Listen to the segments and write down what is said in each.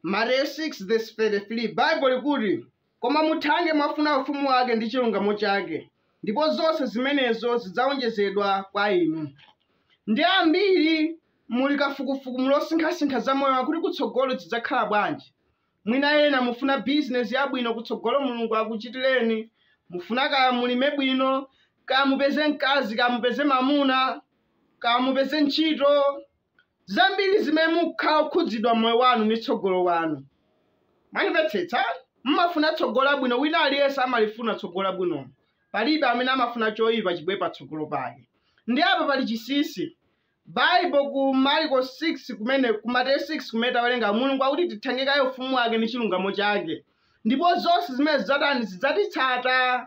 Mateyu 6 verse 33 Baibo likuti, Koma muthange mwafuna ufumu wake ndi chilungamo chake, ndipo zonse zimenezo zidzawonjezedwa kwa inu. Ndi ambiri muli kafukufuku mukusinkhasinkha za moyo wakuti kutsogolo zidzakhala bwanji. Mwina ena mufuna bizinesi yabwino kutsogolo Mulungu akuchitireni, mufuna kaya mulime bwino, kaya mupeze mkazi, kaya mupeze mamuna, kaya mupeze ntchito, zambiri zimene mukhala okhudzidwa mmoyo wanu ndi tsogolo wanu mwandimvetsetsa mumafuna tsogolo labwino wina aliyense amalifuna tsogolo labwino palibe amene amafuna choyipa chibwere patsogolo pake ndiye apa pali chinsinsi baibo ku mariko 6 kumene ku mateyu 6 kumene tawerenga mulungu akuti tithange kaye ufumu wake ndi chilungamo chake ndipo zonse zimene zidzatani zidzatitsata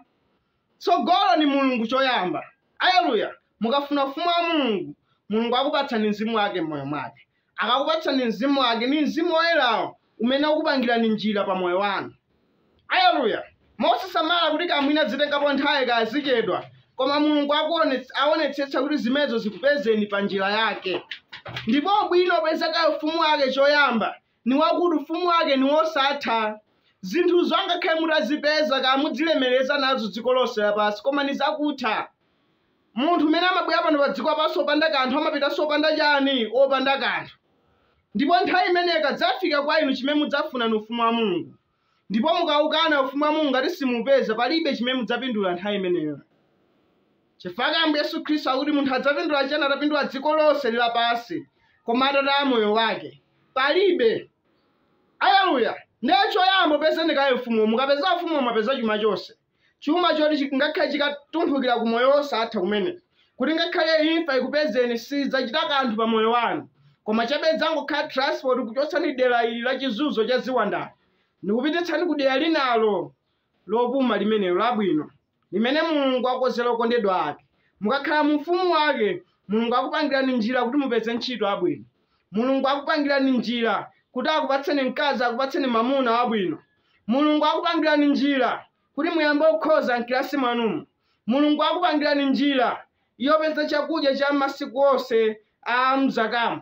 Tsogolo ni Mulungu coyamba. Aleluya! Mukafuna Ufumu wa Mulungu, Mulungu akupatsani mzimu wake m'moyo mwake. Akakupatsani mzimu wake, ni mzimu woyelawo umene ukupangilani njila pa moyo wanu. Aleluya! Mosasamala kuti kaya mwina zitengapo nthawi kaya zicedwa, koma Mulungu aonetsetsa kuti zimenezo zikupezeni pa njila yake. Ndipo ubwino wopeza kaye Ufumu wake coyamba ni wakuti Ufumu wake ni wosatha. Zinthuzo angakhale mutazipeza kaya mudzilemeleza nazo dziko lonse lapansi, koma ni zakutha. Munthu umene amabwela pano padziko lapansi wopanda kanthu amapitanso wopanda cani? Wopanda kanthu. Ndipo nthawi imeneyo ikadzafika kwa inu, cimene mudzafuna ni Ufumu wa Mulungu. Ndipo mukaukana Ufumu wa Mulungu ngati simuupeza, palibe chimene mudzapindula nthawi imeneyo. Chifukwa chake Ambuye Yesu Khristu akuti munthu adzapindula chiyani atapindula dziko lonse lapansi, koma atataya moyo wake? Palibe. Aleluya! Ndiye choyamba upezeni kaye Ufumuwo. Mukapeza Ufumuwo mwapeza chuma chonse. chuma choti chi- ngakhale chikatumphukira ku moyo wosatha kumene kuti ngakhale imfa ikupezeni sidzachita kanthu pa moyo wanu koma chabe idzangokhala transport kuchotsani dera ili la chizunzo cha ziwanda ndikupititsani ku dera linalo lopuma limenelo labwino limene mulungu akonzera okondedwa ake mukakhala mu ufumu wake mulungu akupangirani njira kuti mupeze ntchito yabwino Mulungu akupangirani njira kuti akupatseni mkazi, akupatseni mamuna wabwino. Mulungu akupangirani njira kuti muyambe kukhoza mkilasi mwanumu. Mulungu akupangirani njira yopeza chakudya cha masiku onse a mzakamu.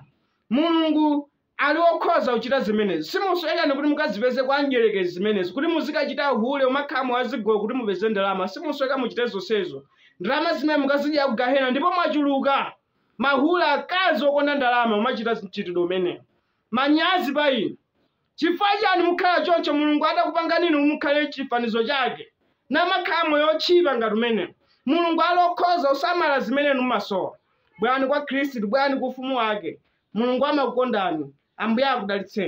Mulungu ali wokhoza kuchita zimenezi. Simusowekanso kuti mukazipeze kwa mdyerekezi zimenezi, kuti muzikachita uhule, kumakhala mu zigolo kuti mupeze ndalama. Simusoweka muchite zonsezo. Ndalama zimene mukazidyera ku gahena ndipo mwachuluka. Mahule akazi okonda ndalama mumachita mchitidwe umenewu. Manyazi pa inu. Chifukwa chani mukhala choncho Mulungu adakupangani inu mukhale chifanizo chake namakhala moyo otchipa ngati umenewu? Mulungu ali okhoza kusamala zimene inu mumasowa. Bwerani kwa Khristu, bwerani ku ufumu wake. Mulungu amakukondani. Ambuye akudalitseni.